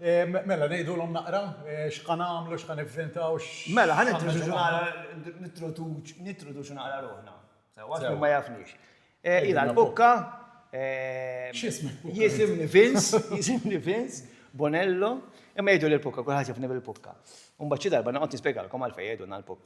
Mela, ngħidulhom naqra x'ħa nagħmlu, x'ħa nivvintaw, x'. Mela, ħa nintroduċu naqra, nintroduċu naqra ruħna. Sewwa, għax min ma jafniex. Ilha l-Bukka. X'ismek? Jisimni Vince, jisimni Vince, Bonello. Imma jgħiduli l-Bukka, kulħadd jafni bil-Bukka. U mbagħad xi darba noqgħod nispjegalkom għalfejn jgħidulna l-Bukka.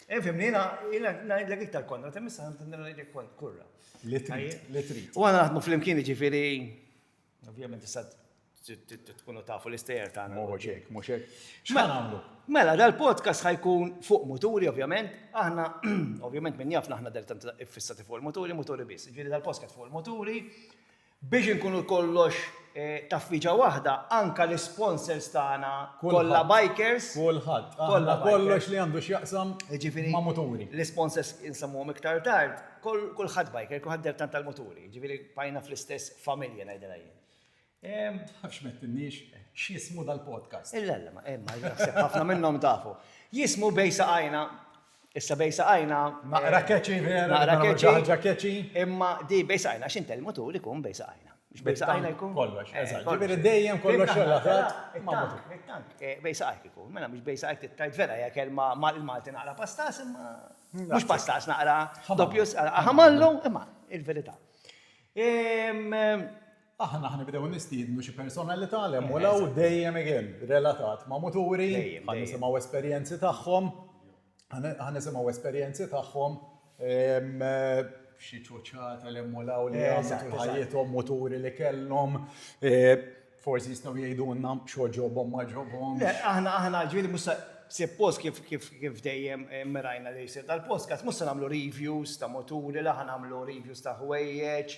Fimni, jena, jena najdlek iktar konna, tem issa għamtin najdlek kont, kurra. Li trid, li trid. U għana għatmu fl-imkien ġifiri, ovvijament issa tkunu tafu l-istejer ta' għana. Moħoċek, moħoċek. Xħan għamlu? Mela, dal-podcast ħajkun fuq muturi, ovvijament, aħna, ovvijament minn jafna aħna del-tant fissati fuq il-muturi, muturi bis. Ġifiri dal-podcast fuq il-muturi, Biex inkunu kollox taffiġa waħda, anka l-isponsors tagħna kollha bikers. Kulħadd. Aħna kollox li għandu x'jaqsam ma' muturi. Jiġifieri l-isponsors insemmuhom iktar tard, kulħadd biker, kulħadd dhertan tal-muturi, jiġifieri bqajna fl-istess familja ngħidilha jien. Tafx m'għedtilniex x'jismu dal-podcast. Illa illa, imma naħseb ħafna minnhom tafu. Jismu Bejn Saqajna. Issa bejn saqajna. Naqra catchy vera. Naqra catchy. Ħaġa catchy. Imma di bejn saqajna għax intel mutur ikun bejn saqajna. Bejn saqajna jkun. Kollox. Eżatt. Ġifieri dejjem kollox xogħol ħadd. It-tank. Bejn saqajk ikun. Mela mhux bejn saqajk it-tard vera hija kelma mal-Malti naqra pastas imma mhux pastas naqra doppju ħamallu imma il-verità. Aħna ħa nibdew nistiednu xi personalità li hemm u 'l hawn, dejjem again relatat ma' muturi, ħa nisimgħu esperjenzi tagħhom, ħa nisimgħu esperjenzi tagħhom, xi ċuċċata li hemm u 'l hawn li għamlu tul ħajjithom, muturi li kellhom, forsi jistgħu jgħidulna x'għoġobhom ma għoġobhomx. Le, aħna, aħna, ġifieri mhux se, sippost kif, kif, kif dejjem immirajna li jsir dal-podcast, mhux se nagħmlu reviews ta' muturi, la ħa nagħmlu reviews ta' ħwejjeġ,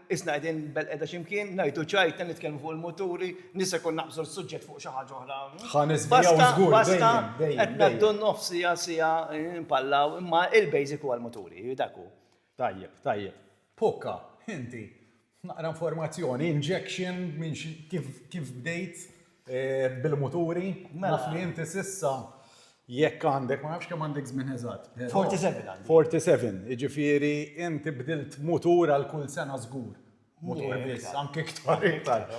Qisna qegħdin belqiegħda xi mkien, ngħitu ċajtna, nitkellmu fuq il-muturi, nies se jkun naqbżu l-suġġett fuq xi ħaġa oħra. Ħa niżvijaw żgur, dejjem, dejjem. Basta, basta, qed ngħaddu n-nofs siegħa, siegħa, npallaw, imma il-basic huwa l-muturi, dak hu. Tajjeb, tajjeb. Pukka, inti, naqra informazzjoni, injection, minn kif bdejt? Bil-muturi, naf li inti s'issa jekk għandek, ma nafx kemm għandek żmien eżatt. 47 għandi. 47, jiġifieri inti bdilt mutur għal kull sena żgur. Mutur biss, anke iktar iktar.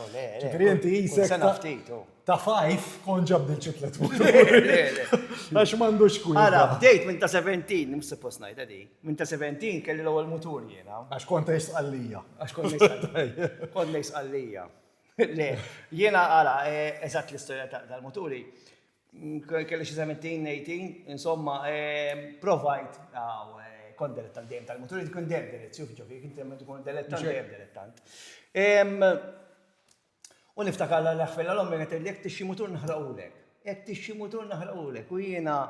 Ġifieri inti qisek ta' fajf kont ġa bdilt xi tliet muturi. Għax m'għandux kwieta. Ara, bdejt minn ta' 17, mhux suppost ngħidha din. Minn ta' 17 kelli l-ewwel mutur jiena. Għax kont ngħix Sqallija. Għax kont ngħix Sqallija. Kont ngħix Sqallija. Le, jiena għala, eżatt l-istorja tal-muturi, kelli xi 17, 18, insomma, provajt, għaw, kont delettant dejjem tal-muturi, tkun dejjem delet, xuf ġofi, kien temmet tkun delettant dejjem delettant. U niftakar l-ħfella l-ommi għetel jek tixi mutur nħraqulek. Jekk tixxi mutur naħrqulek u jiena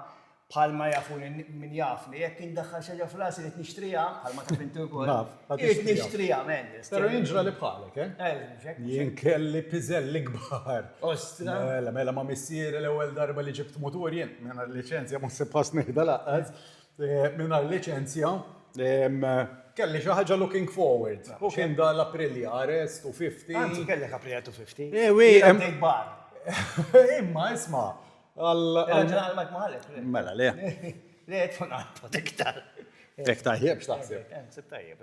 bħalma jafuni min jafni, jekk indaħħal xi ħaġa f'rasi irid nixtriha, bħalma taf inti wkoll. Naf, ma tixtriha. Irid nixtriha, men. Però jien ġrali bħalek, eh? Eh, mhux hekk, mhux hekk. Jien kelli piżelli kbar. Ostra! Mela, mela ma' missieri l-ewwel darba li ġibt mutur jien, mingħajr liċenzja ma sibthax nieħda laqqas, Eh, mingħajr liċenzja, kelli xi ħaġa looking forward. U kien da l-Aprilia Arrest u 50. Anzi, kellek Aprilia 250. Eh, wi, hemm bar. Imma isma' għal. Għal Mike Mahalek. Mela, le. Le, tfun għal protektar. Tek tajjeb, x'taħseb? Tajjeb,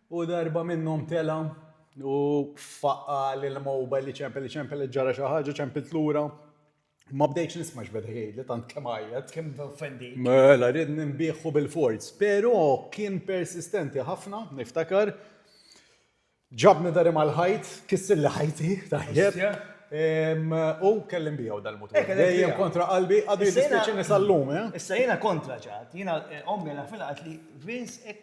U darba minnhom tela' u faqqa' l-mowbajl li ċempel li ċempel li ġara xi ħaġa, ċempilt lura. Ma bdejtx nisma' x'beda jgħidli tant kemm għajjat. Kemm offendi. Mela rid ninbieħu bil-forz. Però kien persistenti ħafna, niftakar. Ġabni dari mal-ħajt, kissilli ħajti, tajjeb. U kelli nbiegħu dal-mutur. Dejjem kontra qalbi, għadu jiddispjaċini sal-lum. Issa jiena kontra ċatt. Jiena ommi għalfejn qalet li Vince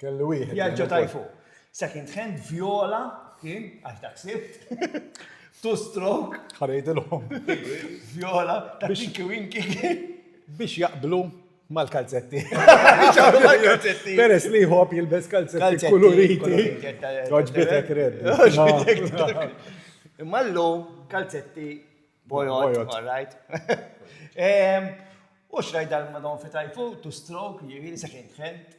Kellu wieħed. Vjaġġa ta' fuq. Second hand viola kien għax dak sibt. Two stroke. Ħarejdilhom. Viola ta' tinki winki. Biex jaqblu mal-kalzetti. Peres li jħob jilbes kalzetti kuluriti. Oġbitek red. Imma l-lum kalzetti bojot, all right? U xrajt dal-madon fi tajfu, two stroke, jiri, second hand.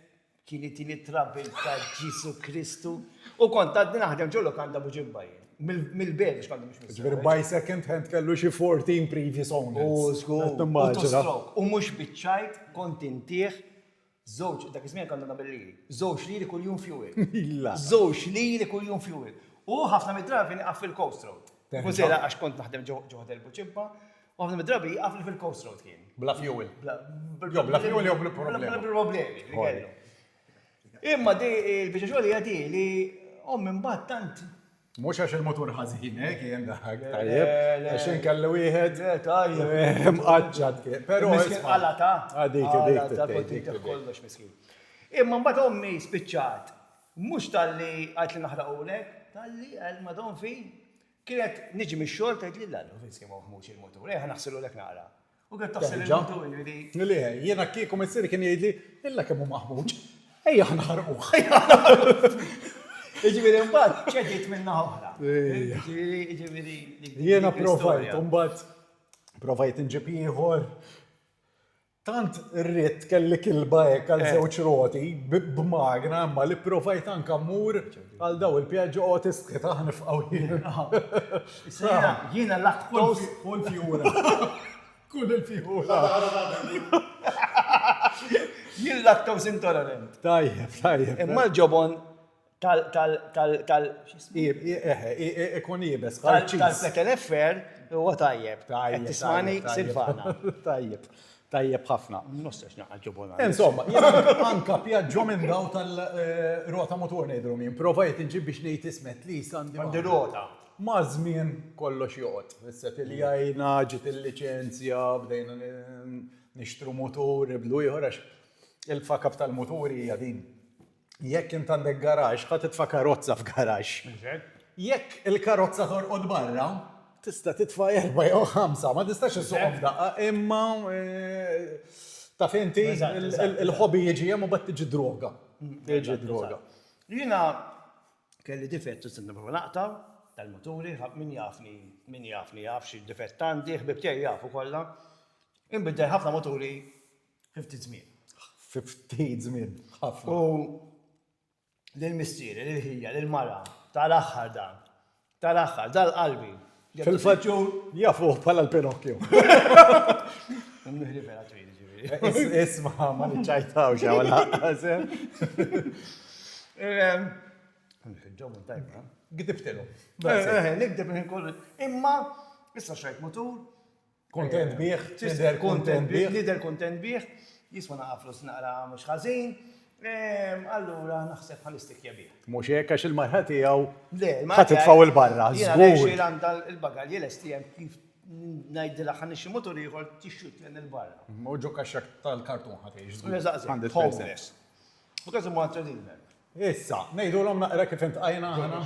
Kien itini travel ta' Ġesu Kristu u kont għadni naħdem ġo lokanda Buġibba jien. Mill-Belġ kont mhux mis. Ġifieri by second hand kellu xi 14 previous owners. U żgur. Nimmaġina. U mhux biċ-ċajt kont intih żewġ, dak iż-żmien konna nagħmel liri, żewġ liri kuljum fuel. Milla. Żewġ liri kuljum fuel. U ħafna mid-drabi nieqaf fil-Coast Road. Ikun sejra għax kont naħdem ġo Ħdel Buġibba, U ħafna mid-drabi jieqaf li fil-coast road kien. Bla fuel. Jo bla fuel jo bla problemi. Bla problemi li kellu. Imma di il-biċċa xogħol hija di li ommi mbagħad tant. Mhux għax il-mutur ħażin eh, kien dak tajjeb. Għax inkellu wieħed. Le tajjeb. Mqaċċat kien. Però miskin qala ta. Għadik dik. Ta' kontinti kollox miskin. Imma mbagħad ommi spiċċat. Mhux talli għajt li naħraqulek, talli għal madon fi Kienet niġi mix-xogħol tgħidli l-Għan hu fejn se jmur Ħmux il-mutur, ejja ħa naħsilulek naqra. U kienet taħsil il-mutur li. Li hi. Jiena kieku missieri kien jgħidli, illa kemm hu maħmuġ, ejja ħa naħarquh. Jiġifieri mbagħad ċediet minn naħa oħra. Jiġifieri. Jiena provajt, mbagħad provajt inġib ieħor. Tant irrid kelli kilba hekk għal żewġ roti b'magna imma li pprovajt anke mmur għal dawn il-pjaġġi Autist Ketaħ nifqgħu jiena. Jiena l-att kull fjura. Kull il-fjura. Jien lactose intolerant. Tajjeb, tajjeb. Imma l-ġobon tal tal tal tal ikun jibes tal tal-peteleffer huwa tajjeb. Tajjeb. Tismani Silvana. Tajjeb. Tajjeb ħafna. Nostax naqgħad ġobona. Insomma, anka pjaġġo minn daw tal-rota mutur ngħidru min. Provajt inġib biex ngħid ismet li sandi. Għandi rota. Ma' żmien kollox joqgħod. Issa tiljajna, ġiet il-liċenzja, bdejna nixtru mutur, nibdlu ieħor għax il-fakab tal-muturi hija din. Jekk int għandek garaġġ, ħa titfa' karozza f'garaġġ. Jekk il-karozza torqod barra, tista' titfa' erba' jew ħamsa, ma tistax issuqhom f'daqqa, imma taf inti il-ħobi jiġi hemm u mbagħad tiġi droga. Tiġi droga. Jiena kelli difett u sirna proprju naqta' tal-muturi, min jafni, min jafni jaf xi difett għandi, ħbieb tiegħi jafu kollha. Inbidel ħafna muturi. Fi ftit żmien. Fi ftit żmien, ħafna. U lil missieri, lil ħija, lil mara, tal-aħħar dan. Tal-aħħar, dal-qalbi. Fil-fatt jafuh bħala l-Pinocchio. Nħri vera twil, ġifieri. Isma' ma niċċajtaw xi għal ħażen. Ġomu tajba. Gidibtilu. Gidib kollu. Imma, issa xajt mutur, Kuntent bih, tidher kuntent bih. Nidher kuntent bih, jiswa naqra flus naqra mhux ħażin, allura naħseb ħa nistikja bih. Mhux hekk għax il-marha tiegħu ħa titfgħu 'l barra, żgur. Jiena ngħixi għandha l-bagalji lesti hemm kif ngħidilha ħa nixtri mutur ieħor tixxuttlen 'il barra. U ġo kaxxak tal-kartun ħa tgħix żgur. Eżatt, eżatt, homeless. U każimhu għal tradilment. Issa, ngħidulhom naqra kif intqajna aħna?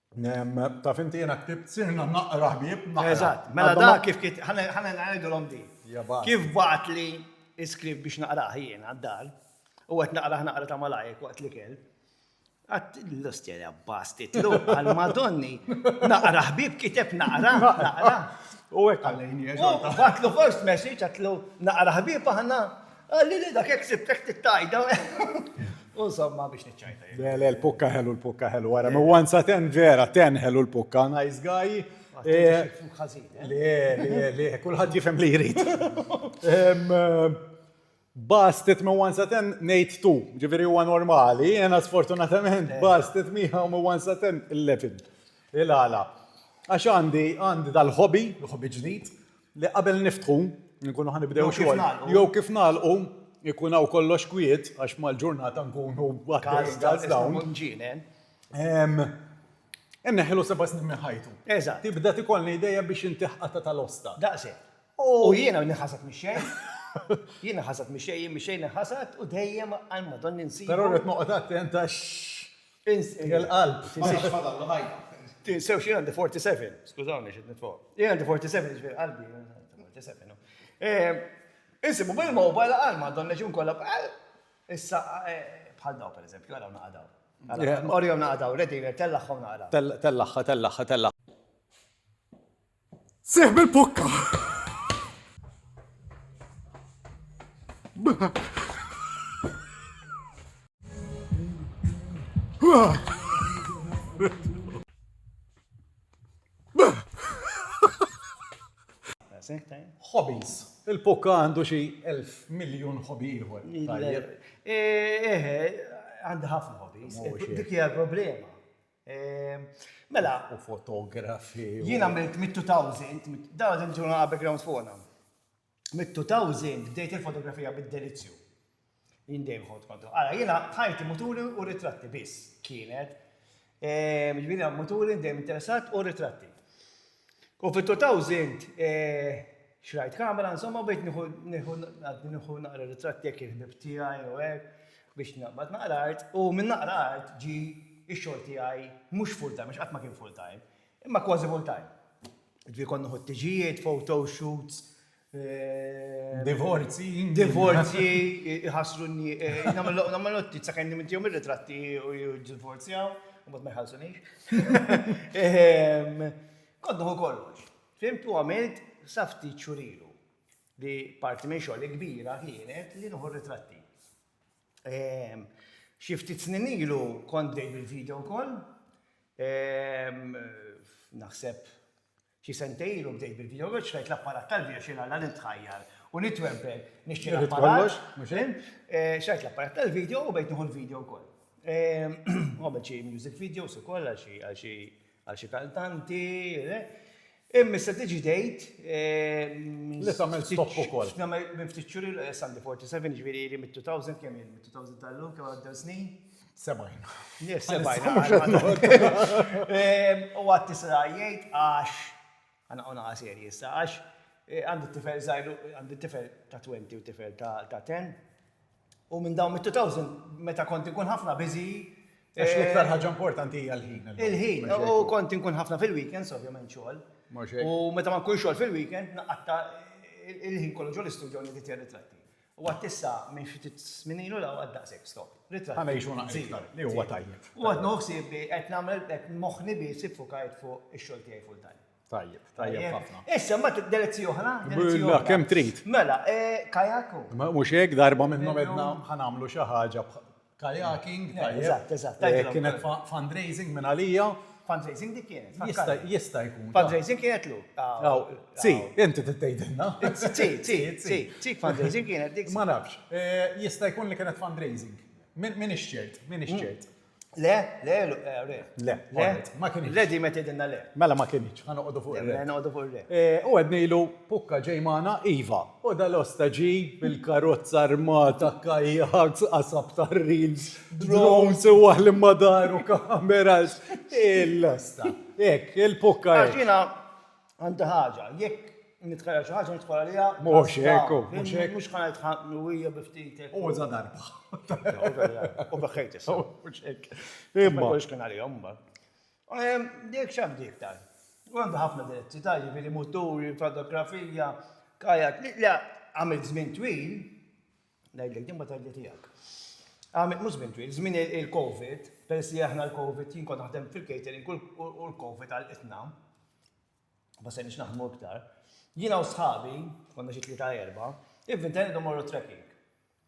Taf inti jena ktibt sirna naqra ħbieb naqra. Eżatt, mela da kif kif ħana ngħidulhom di. Kif bagħat li iskript biex naqrah jiena d-dar u qed naqrah naqra ta' malajr waqt l-ikel. Għadt l-ostja li għabbaż titlu għal Madonni naqra ħbieb kiteb naqra naqra. U hekk għalejni. U bagħtlu first message għatlu naqra ħbieb aħna. Qalli li dak jekk sibtek tittajta u insomma biex niċċajta. Le, le, l-pukka ħelu, l-pukka ħelu, wara, ma once a ten vera, ten ħelu l-pukka, nice guy. Le, le, le, kulħadd jifhem li jrid. Bastet ma once a ten ngħid tu, ġifieri huwa normali, jiena sfortunatament bastet miegħu ma once a ten il-lefin. Il-għala. Għax għandi, għandi dal-hobby, hobby ġdid, Li qabel niftħu, nkunu ħa nibdew xogħol. Jew kif nagħlqu, ikun hawn kollox kwiet għax mal-ġurnata nkunu għaddejjin għal dawn. Inneħħilu seba' snin minn ħajtu. Eżatt. Tibda tikollna idea biex inti ħqatha tal-osta. Daqshekk. U jiena nħasad mix-xejn. Jien nħasad mix-xejn, jien mix-xejn nħasad u dejjem għal Madonna nsibu. Però rrid noqgħod attent għax Insegħ il-qalb. Ma nafx fadallu ħajja. Tinsew xi għandi 47. Skużawni xi nitfgħu. Jien għandi 47 ġifieri qalbi 47. Insibu bil-mobile għal ma donnex inkollha bħal issa bħal daw pereżempju, għalaw naqadaw. Orjom naqadaw, redinger, tellagħhom naqra. Tellagħha, tellagħha, tellagħha. Seħ bil-pukka! Hobbies. Il-pukka għandu xi elf miljon hobby ieħor. Eħe, eh, eh, għandi ħafna hobbies. Dik hija l-problema. Ehm, mela. U fotografi. Jien għamilt mit-2000, mit-2000 ġuna għabek round fuqna. Mit-2000 bdejt il-fotografija bid-delizzju. Jien dejjem ħod kontu. Għala, jiena ħajti muturi u ritratti biss kienet. Ehm, Ġviri, muturi dejjem interessat u ritratti. U fit-2000 xrajt kamera, insomma, bdejt nieħu ngħaddi nieħu naqra ritratti hekk il-ħbieb tiegħi u hekk biex naqbad naqra art u minn naqra art ġie x-xogħol tiegħi mhux full time għax qatt ma kien full time, imma kważi full time. Ġifieri kont noħod tiġijiet, photo shoots, Divorzji. Divorzji, iħassru n-nies. Nagħmel nottiz sakemm nimintihom ir-ritratti u jiddivorzjaw, imbagħad ma jħallsunix. Kont nieħu kollox. Fhimt u għamilt sa ftit xhur ilu li parti minn xogħli kbira kienet li nieħu r-ritratti. Xi ftit snin ilu kont bdejt bil-video wkoll. Naħseb Xi sentejn ilu bdejt bil-video game, xtrajt l-apparat tal-video xi nalla nitħajjar u nitwempel nixtri l-apparat, fim? Xtrajt l-apparat tal-video u bdejt nieħu l-video wkoll. Għamilt xi music videos ukoll għal xi għal xi għal xi kantanti. Imma issa tiġi dejt. Li tagħmel stop ukoll. Nagħmel minn ftit xhur ilu Sandy 47 ġifieri li mit-2000 kemm jien mit-2000 tal-lum kemm għaddew snin. Sebajn. Sebajn. U għat tisra jgħid għax, għana għona għasir jissa, għax eh, għandi tifel zaħiru, għandi tifel ta' 20 u tifel ta' 10. U minn dawn mit-2000, meta konti kun ħafna bizi, Għax l-iktar eh, ħaġa importanti hija l-ħin. Il-ħin, u konti nkun ħafna fil-weekends, ovvjament xogħol. U meta ma nkun xogħol fil-weekend, naqatta il-ħin kollu ġol-istudju li titjer ritratti. U għad issa minn xi ftit żmien ilu 'l hawn għad daqshekk stop. Ritratti. Ħa ngħixu naqra iktar, li huwa tajjeb. U għad nieħu ħsieb li qed nagħmel hekk moħħni biss iffukajt fuq ix-xogħol tiegħi full time. Tajjeb, tajjeb ħafna. Issa mbagħad delizji oħra, delizji oħra. Kemm trid. Mela, kajak u. Mhux hekk, darba minnhom għedna ħa nagħmlu xi ħaġa kayaking, tajjeb, kienet fundraising minn għalija. Fundraising dik kienet, fakkarni. Jista' jkun. Fundraising kienet lu. Tzi, inti trid tgħidilna. Tzi, tzi, tzi, tzi fundraising kienet dik. Ma nafx. Jista' jkun li kienet fundraising. M'iniex ċert, m'iniex ċert. Le, le, le. Le, le. Ma kienx. Le di meta tgħidilna le. Mela ma kienx. Ħa noqogħdu fuq ir-re. Noqogħdu fuq ir-re. U għednilu, pukka ġej magħna, iva, U dal-osta ġie bil-karozza armata, kajaks, qasab tar-reels, drones, u waħħ li ma daru kameras. Il-osta. Hekk, il-pukka hekk. Għax jiena għandi ħaġa, jekk nitħajjar xi ħaġa nidħol għaliha. Mhux hekk hu, mhux hekk. Mhux ħa ngħid ħa qawwija bi ftit hekk. U za darba. U beħħejt issa. Mhux hekk. Imma. Ma jkunx kien għalihom imbagħad. Dik x'għandu iktar? U għandu ħafna diretti ta' jiġifieri muturi, fotografija, kajak, li għamilt żmien twil, ngħidlek din ma tgħidli tiegħek. Għamilt mhux żmien twil, żmien il-COVID, peress li aħna l-COVID jien kont naħdem fil-catering u l-COVID għalqitna, ma se nix naħdmu iktar. Jiena u sħabi, konna xi tlieta erba, ivvintajna idu morru trekking.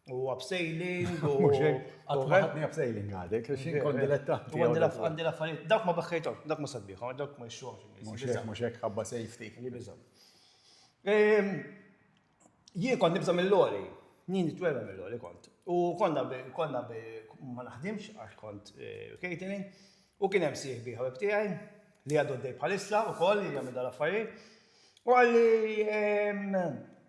U abseiling, u. Mux hekk, għad maħadni abseiling għadek, għax inkun dilettanti. Għandi l-affarijiet, dak ma beħħejtom, dak ma sabbiħom, dak ma jxuħom. Mux hekk, mux hekk, ħabba safety. Li bizom. Jien kont nibżam mill-lori, jien nitwerra mill-lori kont. U konna konna ma naħdimx għax kont catering, u kien hemm sieħbi ħabib tiegħi li għadu d-dej bħalissa u koll li għamil dal-affarijiet. U għalli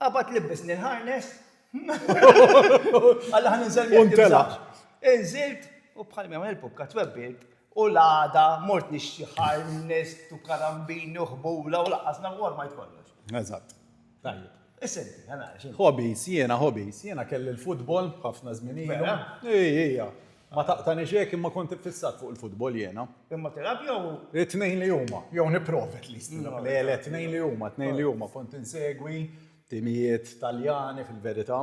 Qabad libbisni l-harness. Alla ħan inżel miegħek. Untela. Inżilt u bħal minn il-pukka twebbilt u l-għada mort nixtri harness u karambini u ħbula u laqas na war ma jkollox. Eżatt. Tajjeb. Isenti, għana. Hobbies, jiena hobbies, jiena kelli l-futbol ħafna żmien ilu. Ija, ija. Ma taqtanix hekk imma kont iffissat fuq il-futbol jiena. Imma tilgħab jew. It-tnejn li huma, jew nipprova at least nilgħab. Le, le, tnejn li huma, tnejn li huma. Kont insegwi timijiet Taljani fil-verità,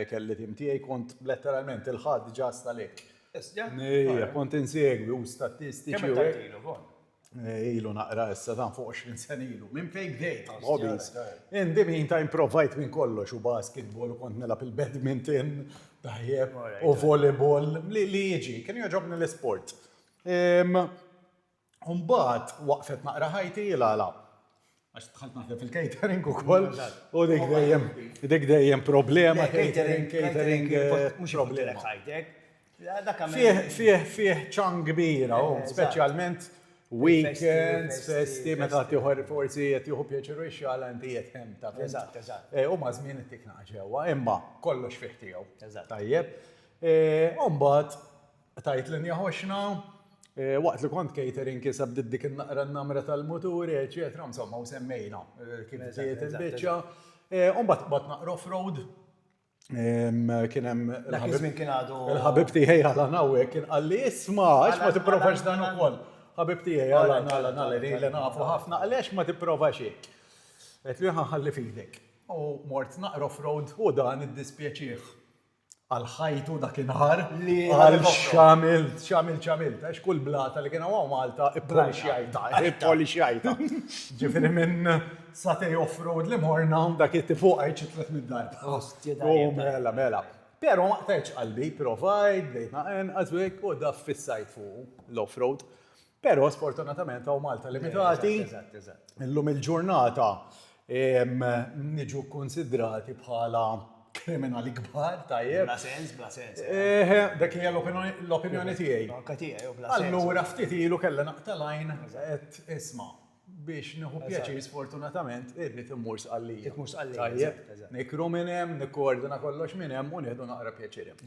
kelli tim tiegħi, kont letteralment il-Ħadd ġast għalik. Issa? Ejja, kont insegwi u statistiċi u hekk. Kemm il-tant ilu, Von? ilu naqra issa dan fuq 20 sen ilu, minn fejn bdejt hobbies. In the meantime provajt minn kollox u basketball u kont nilgħab il-badminton tajjeb u volleyball li li jiġi, kien jogħġobni l-isport. Umbagħad waqfet naqra ħajti la la. Għax dħalt naħdem fil-catering ukoll. U dik dejjem, dik dejjem problema. Catering, catering, mhux problema. Fih, fih, fih ċan kbira, oh, eh, speċjalment weekends, festi, meta tiħor forsi qed jieħu pjaċeru x-xala inti qed hemm ta' Eżatt, eżatt. Eh, u ma' żmien ittik ġewwa, imma kollox fih tiegħu. Tajjeb. Eh, Umbagħad Tajt linja ħoxna, waqt li kont catering kisa bdiet dik in-naqra n-namra tal-muturi, eċetera, insomma, u semmejna kif bdiet il-biċċa. Umbagħad qbad naqra off-road, kien hemm il-ħabib tiegħi Alan hawnhekk kien qal li isma' għax ma tipprovax dan ukoll. Ħabib tiegħi Alan, Alan, Alan, li ilna nafu ħafna, qal li għax ma tipprovax hekk. Għedtlu jien ħa nħalli f'idek. U mort naqra off-road u dan iddispjaċih. għal ħajtu dak in-nahar li għal x'għamilt, x'għamilt, x'għamilt, għax kull blata li kien hawn hawn Malta ippolixxjajtha, ippolixxjajtha. Ġifieri minn satej off-road li morna dak it-tifuq għid xi tliet mitt darba. Ostja dajjeb. U mela, mela. Però ma qtgħetx qalbi, provajt, bdejt nagħenqas u hekk u daf fissajt fuqu l-off-road. Però sfortunatament hawn Malta limitati. Illum il-ġurnata niġu konsidrati bħala kriminali kbar, tajjeb. Bla sens, bla sens. Eh, dak hija l-opinjoni tiegħi. Anka tiegħi, bla sens. Allura ftit ilu kellha naqtalajn qed isma' biex nieħu pjaċir sfortunatament irrid immur sqallija. Immur sqallija. Tajjeb. Nikru minn hemm, nikkoordina kollox minn hemm u nieħdu naqra pjaċir hemm.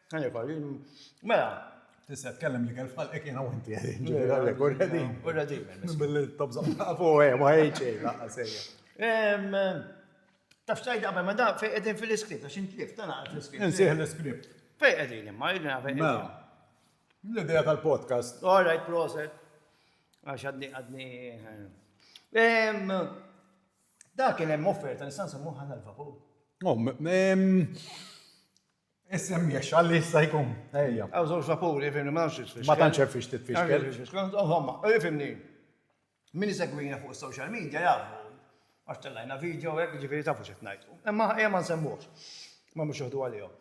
Mela, tista' tkellem li kelf ħalqek jiena u inti għedin. Ġifieri għalhekk urredin. Urredin. Billi tobża fuq hemm ma ħejċej laqqa sejja. Taf xtajt qabel ma daf fejn qegħdin fil-iskript għax intlift tana fil-iskript. Insih l-iskript. Fejn qegħdin imma jidna fejn. Mela. L-idea tal-podcast. All right, proset. Għax għadni għadni. Dak kien hemm offerta nista' nsemmuha l-vapur. Isem jexxa li jista' jkun. Ejja. Hawn żewġ vapuri, fimni, ma nafx x'tfixkel. Ma tantx hemm fiex titfixkel. Insomma, fimni, min isegwina fuq is-social media jafu għax tellajna video hekk, jiġifieri tafu x'qed ngħid. Imma ejja ma nsemmuhx. Ma nbgħux joħdu għalihom.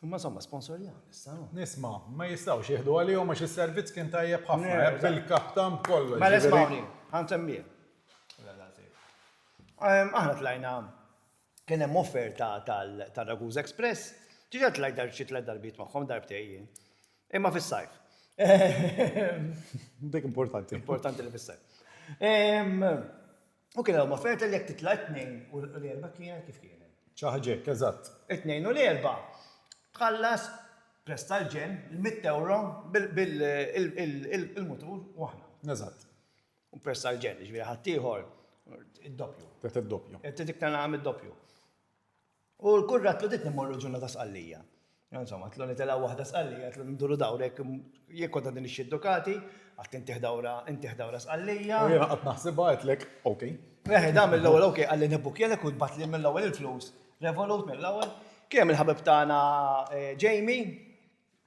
Imma insomma sponsorjawna issa, no? Isma', ma jistgħux jieħdu għalihom għax is-servizz kien tajjeb ħafna, hekk bil-kaptan b'kollox. Mela ismgħuni, ħa nsemmih. Aħna tlajna Kien hemm offerta tar-Ragusa Express. Diġà tlajt xi tliet darbiet magħhom, darbtejn jien. Imma fis-sajf. Dik importanti. Importanti li fis-sajf. U kien hemm offerta li jekk titla' t-Tnejn u l-Erbgħa kienet kif kienet. Xi ħaġa hekk, eżatt. It-Tnejn u l-Erbgħa tħallas prezz tal-ġenn, il-mitt ewro bil-mutur u aħna. Eżatt. U persa l-ġen, ġviri ħattijħor, id-doppju. Tet id-doppju. Tet iktar naqam id-doppju. U l-kurrat tu dit nimorru ġunna ta' sqallija. Insomma, tlu nitela wahda sqallija, tlu nduru dawrek, jekk għadda din ix-xiddukati, għat intih dawra, intih dawra sqallija. U jena għat naħsiba għetlek, ok. Eħe, dam mill-ewel, ok, għalli nebuk jelek u bat li mill-ewel il-flus. Revolut mill-ewel. Kiem il-ħabib tana eh, Jamie,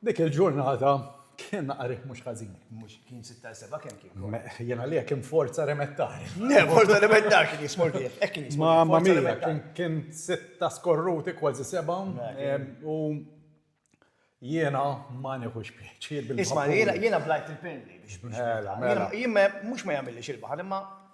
Dik il-ġurnata kien naqra riħ mhux ħażin. Mhux kien sitta il seba' kemm kien? Me, jien għalija kien forza remettari. Le, forza remettari kien jismu l-bieħ, hekk kien jismu. Ma ma mija, kien kien sitta skorruti kważi seba' u jiena ma nieħux pjaċir bil-baħar. Isma' jiena blajt il-pilli biex. Mela, mela. Jien mhux ma jagħmilix il-baħar imma.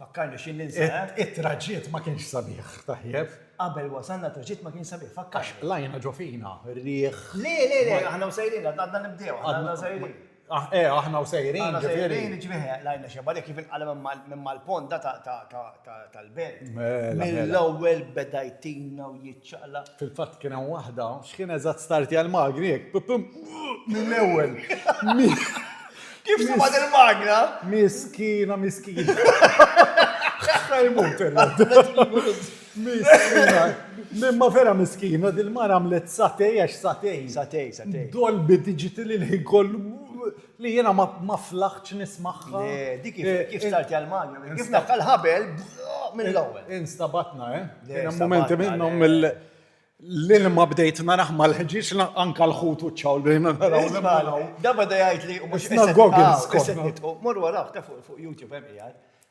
Fakkarni x'in ninsa, eh? It-traġitt ma kienx sabiħ, tajjeb. Qabel wasalna t-traġitt ma kienx sabiħ, fakkarni. Għax qlajna ġo fina, riħ. Le, le, le, aħna u sejrin, għadna nibdew, aħna u sejrin. Eh, aħna u sejrin, ġifieri. Aħna u sejrin, ġifieri, qlajna xi barek kif inqala minn mal-ponda tal-belt. Mela, mela. Mill-ewwel beda jtina u. ċaqlaq. Fil-fatt kien hemm waħda x'kien eżatt startja l-magni hekk pipim mill-ewwel. Kif sibat il-magna? Miskina, miskina. Ħafna jmut Miskina. Mimma vera miskina, dil-mara għamlet satej għax satej. Satej, satej. Dolbi diġitil il-ħin kollu Li jiena ma flaħtx nismagħha. Le, di kif kif start għal Malta, kif dak l-ħabel mill-ewwel. Instabatna, eh? Kien hemm mumenti minnhom mill l-ilma bdejt naraħ mal-ħġieġ anka l-ħut u ċawl bdejna naraw l-imgħalaw. Da bada jgħid li mhux nitqgħu. Mor wara ta' fuq YouTube hemm qiegħed.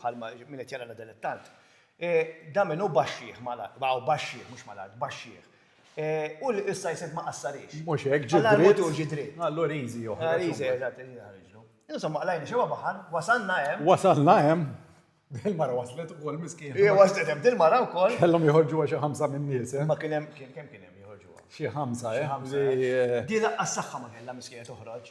bħalma min qed jara l-dilettant, dan minnu baxxieħ mal-art, baqgħu baxxieħ, mhux mal-art, baxxieħ. U li issa jisib ma qassarix. Mhux hekk, ġi dritt. Mhux ġi dritt. Allura riżi joħroġ. Ah, riżi, eżatt, riżi ħarġlu. Insomma, qlajna xewa baħan, wasalna hemm. Wasalna hemm. Dil-mara waslet u kol miskin. Ija waslet hemm dil-mara u kol. Kellhom joħorġu għaxa ħamsa minn nies. Eh? Ma kien hemm, kien kemm kien hemm joħorġu. Xi ħamsa, eh? eh? Di laqqa s-saħħa ma kellha miskija toħroġ.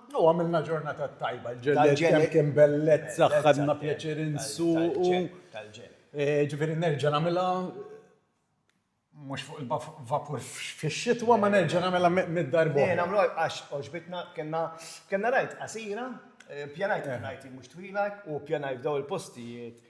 U għamilna ġurnata tajba, l-ġellied kemm kien bellezza, ħadna pjaċir insuqu. Ġifieri nerġa' nagħmilha mhux fuq il-vapur fix-xitwa, ma nerġa' nagħmilha mitt darba oħra. Le, nagħmlu hekk għax għoġbitna, kellna ride qasira, pjanajt ir-ride mhux twila u pjanajt f'dawn il-postijiet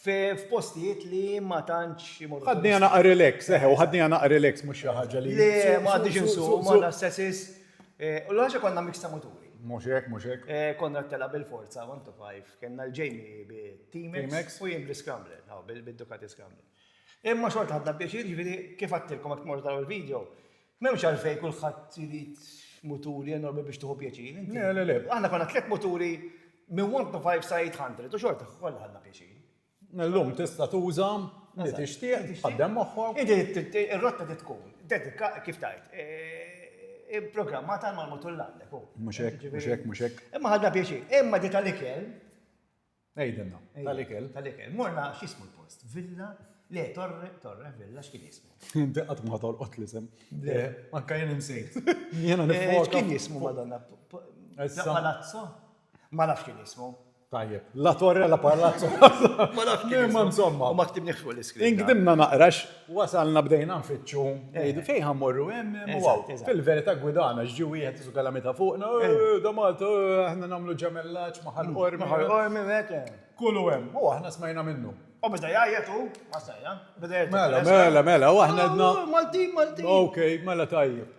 f'postijiet li ma tantx imorru. Ħadniha naqra relax, eħe, u ħadniha naqra relax mhux xi ħaġa li. Le, ma għadniex insuqu, ma għandna s-sessis. U l-oħra xi konna mix ta' muturi. Mhux hekk, mhux hekk. Konrad telaq bil-forza one to five, kellna l-Jamie bit-T-Max u jien bl-Scrambler, hawn, bid-Ducati Scrambler. Imma xorta ħadna pjaċir, jiġifieri kif għedtilkom jekk tmorru taraw il-video, M'hemmx għalfejn kulħadd irid muturi enormi biex tieħu pjaċir. Le, le, le. Aħna konna tliet muturi minn 125 sa 800 u xorta kollha ħadna pjaċir. Illum tista' tuża li tixtieq, tħaddem moħħok. Inti ir-rotta trid tkun dedika, kif tgħid, ipprogrammata għal mal-mutur li għandek. Mhux hekk, mhux hekk, mhux hekk. Imma ħadna pjaċir. Imma di tal-ikel. Ejdinna, tal-ikel. Tal-ikel. Morna x'ismu l-post? Villa? Le, Torre, Torre, Villa, x'kien jismu? Inti qatt ma tolqot l-isem. Le, anka jien insejt. Jiena nifwok. Kien jismu Madonna? Palazzo? Ma nafx kien jismu. Tajjeb, la Torre, la Palazzo. Ma nafx kien jismu. Ma ktibni fuq l-iskrin. Inkdimna naqrax Wasalna bdejna nfittxu, ngħidu fejn ħa mmorru hemm hemm u hawn. Fil-verità gwidana x'ġie wieħed isu kalamita fuqna, da Malta, aħna nagħmlu ġemellaġġ ma' Ħal Qormi. Ma' Ħal Qormi hekk hemm. Kullu hemm. U aħna smajna minnu. U beda jgħajjat hu, ma stajna. Mela, mela, mela, u aħna għedna. Maltin, Maltin. Okej, mela tajjeb.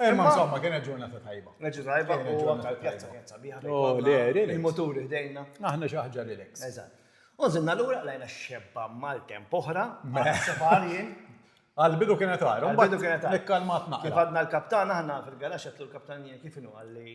Eh, ma insomma, kienet ġurnata tajba. Kienet ġurnata tajba, kienet ġurnata pjazza, pjazza biħa. Oh, le, relax. Il-moturi ħdejna. Aħna xi ħaġa relax. Eżatt. Unżilna l-ura lajna xebba mal-temp oħra, sefarjien. Għal-bidu kienet għar, għal-bidu kienet għar. Nikkalmat naqra. Kif għadna l-kaptan aħna fil-garax għatlu l-kaptan jien kif inu għalli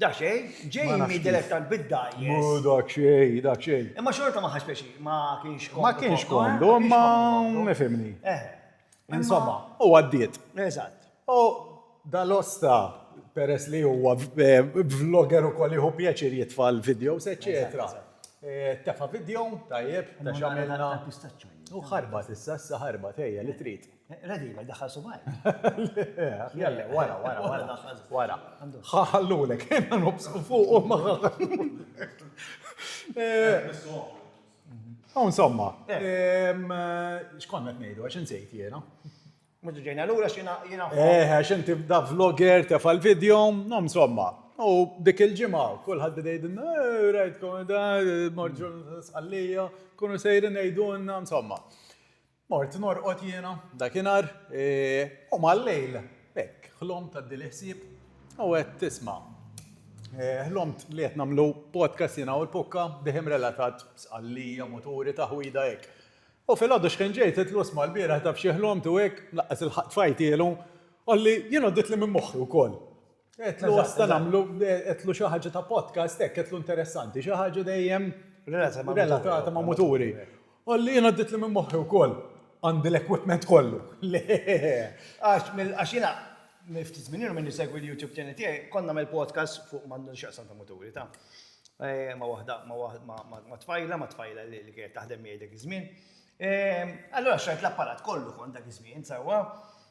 Daqsxejn, Jamie dilettant bid-dgħajjes. Mhu daqsxejn, daqsxejn. Imma xorta ma ħass pjaċir, ma kienx komdu. Ma kienx komdu, imma ifhimni. Eh. Insomma, u għaddiet. Eżatt. U dal-osta, peress li huwa vlogger ukoll jieħu pjaċir jitfa' l-videos, eċċetera. Tefa' video, tajjeb, ta' x'għamilna. U ħarbat issa, issa ħarbat, ejja li trid. Ready, ma jdaħħal subaj. Jalla, wara, wara, wara. Wara. Ħaħallulek, jena nobsku fuq u maħħa. U insomma, xkonna t-nejdu, għax nsejt jena. Mudu ġejna l-ura xina jena. Eh, għax inti da vlogger tef għal-video, no insomma. U dik il-ġimgħa kulħadd bdejdin rajt komenda, morġu sqallija, kunu sejrin ngħidulna insomma. Mort norqod jiena dakinhar u mal-lejl hekk ħlomt għaddieli ħsieb u għedt isma' ħlomt li qed nagħmlu podcast jiena u l-Pukka dehim relatat b'sqallija, muturi, taħwida hekk. U filgħodu xħin ġejt għedtlu isma' lbieraħ taf xi ħlomt u hekk, laqqas ilħaqt fajtielu, qalli jien għaddietli minn moħħi wkoll. Qedlu għasta nagħmlu, qedlu xi ħaġa ta' podcast hekk, qedlu interessanti, xi ħaġa dejjem relatata ma' muturi. Għalli jien għaddit li minn moħħi wkoll għandi l-equipment kollu. Le, għax jiena minn ftit żmien ilu minn nisegwi l-YouTube channel tiegħi, kont nagħmel podcast fuq m'għandu x'jaqsam ta' muturi ta' ma' waħda ma' tfajla, ma' tfajla li kienet taħdem miegħi dak iż-żmien. Allura xtrajt l-apparat kollu kont dak iż-żmien, sewwa.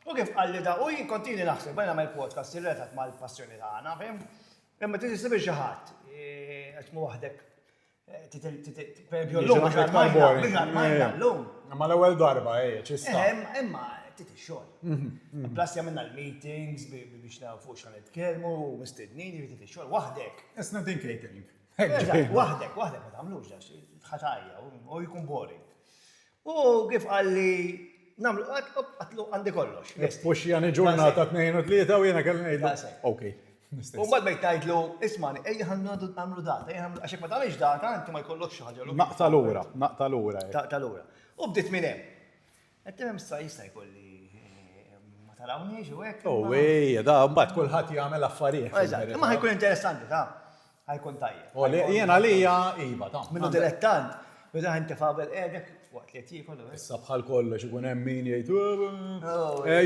U kif qalli da u jien kont ili naħseb bdejna nagħmel podcast irrelat mal-passjoni tagħna, fhimt? Imma trid issib lil xi ħadd. Għax tkun waħdek pereżempju llum biex armajna, biex armajna llum. Imma l-ewwel darba, ejja, xi sta. Imma trid ix-xogħol. Plus għamilna l-meetings biex nagħrfu fuq x'ħa nitkellmu, mistednin, jiġifieri trid ix-xogħol waħdek. It's not in catering. Waħdek, waħdek ma tagħmlux għax ħatajja u jkun boring. U kif qalli namlu għatlu għandi kollox. Pux jani ġurnata 2 u 3 u jena kelli ngħidlu. Ok. U mbagħad bejt tgħidlu, ismani, ejja ħandu għamlu data, ejja ħandu għaxek ma tagħmilx data, inti ma jkollokx xi ħaġa. Naqta lura, naqta lura. Naqta lura. U bdiet minn hemm. Qed tgħid issa jista' jkun li ma tarawniex u hekk. U ej, da mbagħad kulħadd jagħmel affarijiet. Eżatt, imma ħajkun interessanti ta' ħajkun tajjeb. U li jien għalija iva ta'. Minnu dilettant, meta ħin tifa' qabel qiegħdek waqt li qed jiekol. Issa bħal kollox ikun hemm min jgħid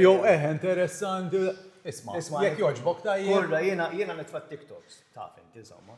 jew eh interessanti. Isma', jekk jogħġbok tajjeb. Urra jiena jiena nitfa' TikToks, taf int insomma.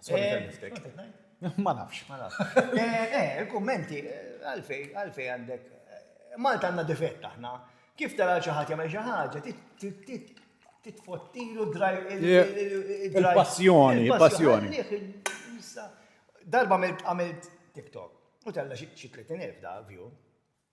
Sorry tal liftek. Ma nafx. Ma nafx. Eh, il-kummenti, għalfej, għalfej għandek. Malta għandna difett aħna. Kif tara xi ħadd jagħmel xi ħaġa, titfottilu draj il-passjoni, il-passjoni. Darba għamilt TikTok u tella xi 30,000 da view.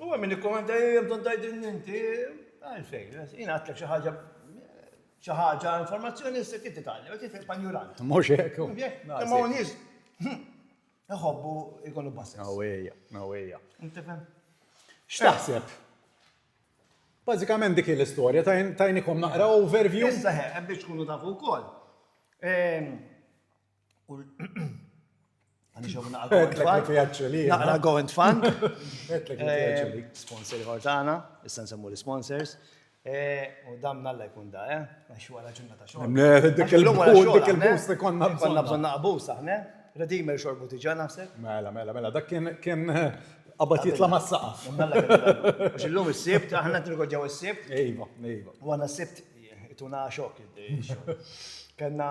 U hemm min ikkommenta hemm tant tgħidilni inti għalfejn, jien għadlek xi ħaġa xi ħaġa informazzjoni issa kif titgħallem, qed tifhem panjuran. Mhux hekk. Imma hawn nies iħobbu jkunu bassess. Awejja, awejja. Tifhem? X'taħseb? Bażikament dik l-istorja tajnikom naqra overview. Issa hemm biex tkunu tafu wkoll. Ehm, Għani xo minna għal go and fund. Sponsor għortana, issan semmu li sponsors. U dam nalla jkun da, eh? Għaxu għala ġunna ta' xo. Dik il-bus, dik il-bus, konna bżonna bżonna bus, aħne. Redimer xorbu tiġa naħseb. Mela, mela, mela, dak kien għabat jitla ma' saqaf. Għax il-lum il-sibt, aħna t-rigodjaw il-sibt. Ejba, ejba. U għana sibt, ituna xok, Kenna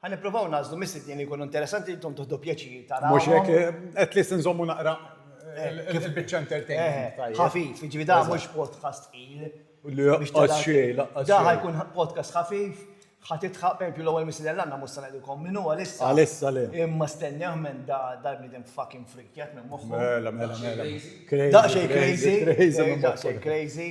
Ħa nippruvaw nagħżlu mistiednin li jkunu interessanti li intom tieħdu pjaċir tarawhom. Mhux hekk, at least inżommu naqra il-biċċa entertainment tajjeb. Ħafif, jiġifieri dan mhux podcast tqil. Laqqas xejn, laqqas xejn. Dan ħa jkun podcast ħafif, ħa tidħaq, pereżempju l-ewwel mistieden li għandna mhux se ngħidilkom min hu għalissa. Għalissa le. Imma stennewh m'hemm dal-bniedem fucking freak jgħid minn moħħu. Mela, mela, mela. Daqsxejn crazy. Daqsxejn crazy.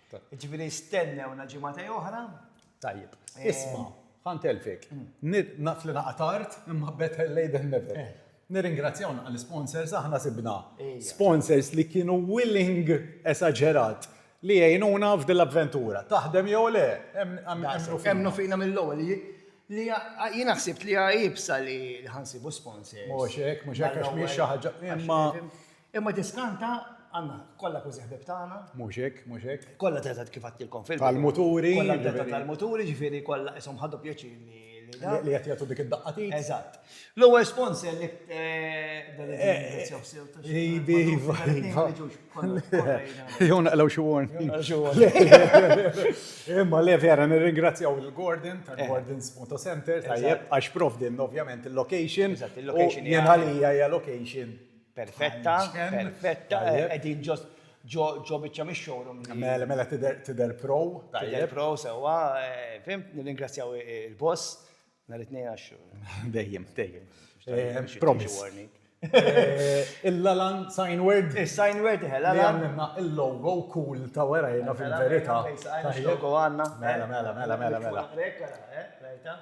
Ġifieri stennewna ġimgħatej oħra. Tajjeb. Isma', ħa ntelfek. Naf li naqa' tard, imma better late than never. Nirringrazzjaw naqra l-isponsors, aħna sibna sponsors li kienu willing, esaġerat, li jgħinuna f'din l-avventura. Taħdem jew le, emmnu fina mill-ewwel. Jiena ħsibt li hija iebsa li ħa nsibu sponsors. Mhux hekk, mhux hekk għax mhijiex xi ħaġa. Imma Imma tiskanta, Anna, kollha kważi ħbieb tagħna. Mhux hekk, mhux hekk. Kollha teta' kif għedtilkom fil-bidu. Tal-muturi. Kollha teta' tal-muturi, jiġifieri kollha qishom ħadu pjaċir li dan. Li qed jagħtu dik id-daqqa t'id. Eżatt. L-ewwel sponsor li. Dan li jirringrazzjaw sew ta' xi. Iva, iva. Ma jiġux kollha kollha jgħidu. Jew naqlew xi warning. Jew naqlew xi warning. Imma le vera nirringrazzjaw lil Gordon tal-Gordon's Moto Center tajjeb għax provdinna ovvjament il-location. Eżatt, il-location hija. Jien għalija hija location. Perfetta, perfetta, qegħdin ġost ġo biċċa mix-showroom. Mela, mela tidher pro. Tidher pro sewwa, fimt, nirringrazzjaw il-boss nhar it-Tnejn għax. Dejjem, dejjem. Promise. Il-Lalan sign word. Is-sign word, eħe, Lalan. Għamilna il-logo cool ta' wara jena fil-verità. Logo għandna. Mela, mela, mela, mela. Mela, mela, mela.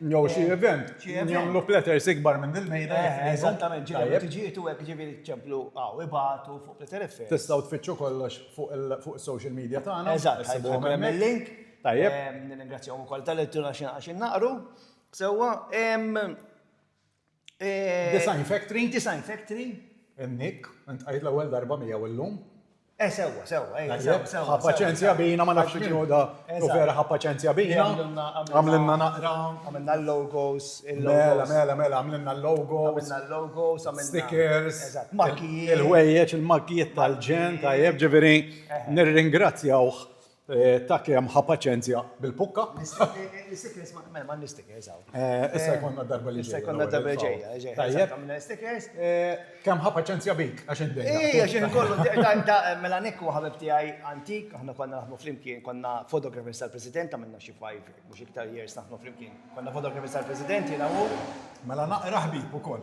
Jew xi eh, event, jagħmlu platters ikbar minn dil-mejda. Eh, eżattament, ġifieri tiġietu hekk ġifieri ċemplu għaw ibatu fuq platter effect. Tistgħu tfittxu kollox fuq is-social media tagħna. Eżatt, ħajbuhom hemm il-link. Tajjeb. Nirringrazzjahom ukoll tal-ittura xi naqgħax innaqru. Sewwa, Design Factory. Design Factory. Nick, int qajt l-ewwel darba miegħu illum. Eh, sewwa, sewwa, ejja, eh, sewwa, sewwa. Ħa paċenzja bina, ma nafx x'inhu da. U vera ħa paċenzja bina. Għamlinna naqra. Għamlinna l-logos. Mela, mela, mela, għamlinna l-logos. Għamlinna l-logos, għamlinna. Stickers. Eżatt, makkijiet. Il-ħwejjeġ, il-makkijiet tal-ġen, tajjeb, ġifieri, eh. nirringrazzjawh Ta' kemm ħa paċenzja bil-pukka. L-istikers, mela ma' l-istikers għaw. Issa jkollna darba li ġejja. Issa jkollna darba li ġejja. Tajjeb. Għamilna l-istikers. Kemm ħa paċenzja bik, għax inti. Ejja, xi nkollu. Mela Nick huwa ħabib tiegħi antik, aħna konna naħdmu flimkien, konna photographers tal-President, għamilna xi five, mhux iktar years naħdmu flimkien. Konna photographers tal-President jiena u hu. Mela naqra ħbieb ukoll.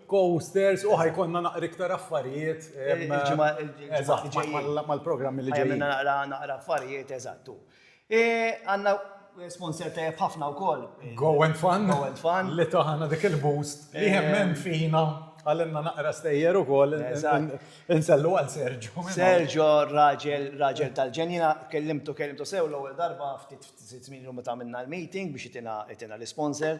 Coasters u ħa jkollna naqra iktar affarijiet. Il-ġimgħa li ġejjin. Mal-programmi li ġejjin. Ħa jkollna naqra affarijiet, eżatt. Għandna sponsor tajjeb ħafna wkoll. Go and Fun. Go and Fun. Li tagħna dik il-boost li jemmen fina għalinna naqra stejjer ukoll. Eżatt. Insellu għal Sergio. Sergio, raġel tal-ġenja. Jiena kellimtu, kellimtu sew l-ewwel darba ftit żmien ilu meta għamilna l-meeting biex itina l-isponsor.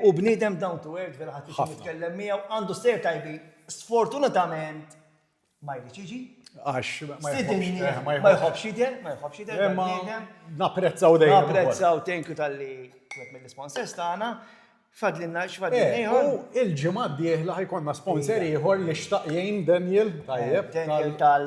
Hu bniedem down to earth, vera ħadd iġib jitkellem miegħu, għandu stejjer tajbin. Sfortunatament ma jridx jiġi. Għax ma jħobbx jidher, ma jħobbx jidher. Imma napprezzaw dejjem. Napprezzaw thank you tal-li wieħed mill-isponsors tagħna. Fadlinna x'fadlinna eh, ieħor. Il-ġimgħa d-dieħla ħajkonna sponsor ieħor li xtaq jgħin Daniel tajjeb. Daniel tal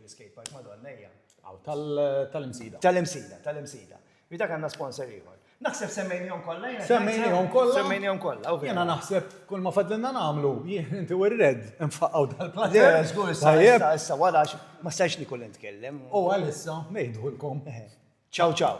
Skate park madonna hija. Aw tal-imsida. Tal-imsida, tal-imsida. Bita kanna sponsor ieħor. Naħseb semmejnihom kollha jiena. Semmejnihom kollha. Semmejnihom kollha. Jiena naħseb kull ma fadlinna nagħmlu jien inti u r-red infaqgħu dal-plaza. Żgur issa issa wara ma stajx li kull nitkellem. U għalissa ngħidulkom. Ciao ciao.